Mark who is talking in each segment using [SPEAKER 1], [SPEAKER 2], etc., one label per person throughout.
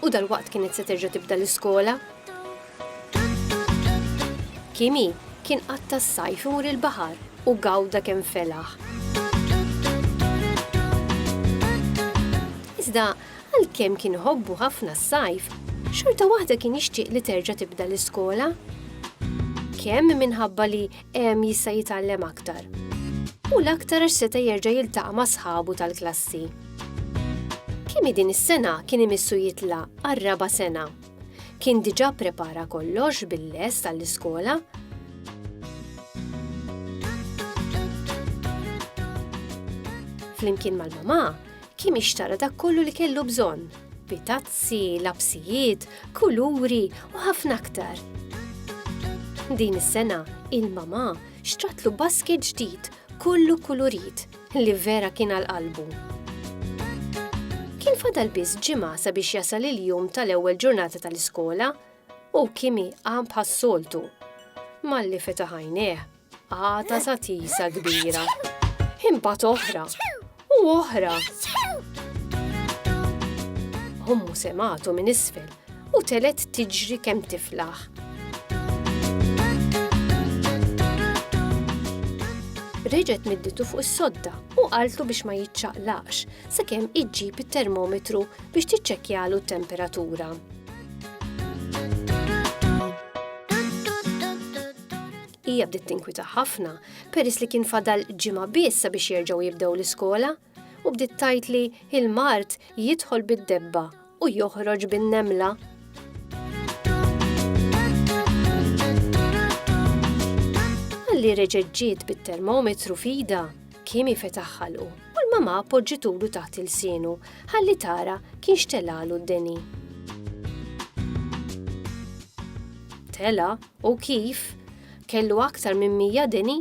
[SPEAKER 1] U dalwaqt kienet se terġa' tibda l-iskola. Kimi kien qatta' s-sajf imur il-baħar u gawda kemm felaħ. Iżda għalkemm kien iħobbu ħafna s-sajf, xorta waħda kien jixtieq li terġa' tibda l-iskola. Kemm minħabba li Hemm jista' jitgħallem aktar. U l-aktar għax seta' jerġa' jiltaqa' ma' sħabu tal-klassi. Kimi din is-sena kien imissu jitla' għar-raba' sena. Kien diġà prepara kollox bil-lest għall-iskola flimkien mal-mamà, Kim ixtara dak kollu li kellu bżonn, pitazzi, lapsijiet, kuluri u ħafna aktar. Din is-sena, il-mamà xtratlu basket ġdid kollu kulurit li vera kien għal qalbu. Kien fadal biss ġimgħa sabiex jasal il-jum tal-ewwel ġurnata tal-iskola u Kimi qam bħas-soltu. Malli fetaħ għajnejh, Għata ta' tisa kbira. Imbagħad oħra. U oħra. Ommu sematu minn isfel u telet tiġri kemm tiflaħ. reġet midditu fuq is-sodda u qaltu biex ma jitċaqlaqx sakemm iġġib it-termometru biex tiċċekkjalu t-temperatura. Hija bdiet tinkwita ħafna peress li kien fadal ġimgħa biss sabiex jerġgħu jibdew l-iskola u bdiet tajt li il-mard jidħol bid-debba u joħroġ bin-nemla. Għalli reġeġġiet bit-termometru fida, kimi fetaħħalu u l-mama poġġitulu taħt il-sienu ħalli tara kien xtelalu d-deni. Tela U kif kellu aktar minn mija deni,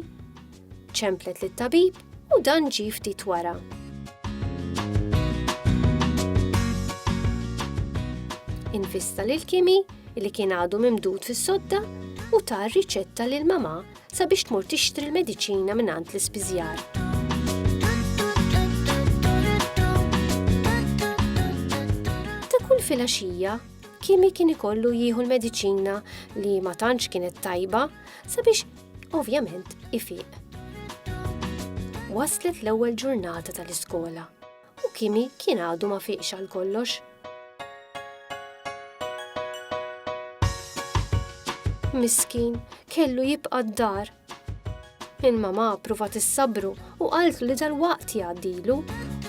[SPEAKER 1] ċemplet lit-tabib u dan ġie ftit wara. Invista lil Kimi li kien għadu mimdud fis-sodda u ta' riċetta lil mamà sabiex tmur tixtri l-mediċina minn għand l-ispiżjar. filgħaxija Kimi kien ikollu jieħu l-mediċina li ma tantx kienet tajba sabiex ovvjament ifiq. Waslet l-ewwel ġurnata tal-iskola u Kimi kien għadu ma fiqx għal kollox. Miskin, kellu jibqa' d-dar Il-mamà pruvat issabru u qaltlu li dal-waqt jgħaddilu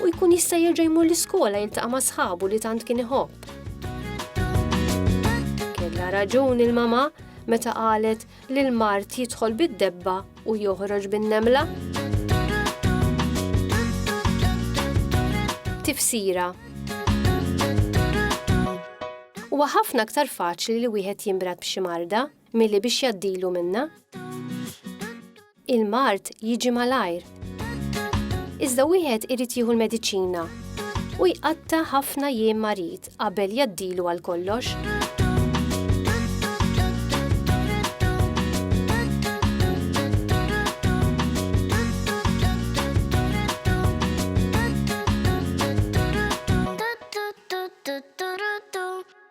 [SPEAKER 1] u jkun jista' jerġa' jmur l-iskola jiltaqa' ma' sħabu li tant kien iħobb. Kellha raġun il-mamà meta qalet li l-mard jidħol bid-debba u joħroġ bin-nemla. Tifsira Huwa ħafna aktar faċli li wieħed jinbrat b'xi marda Milli biex jgħaddilu minnha, il-mard jiġi malajr. Iżda wieħed irid jieħu l-mediċina u jqatta' ħafna jiem marid qabel jgħaddilu għal kollox.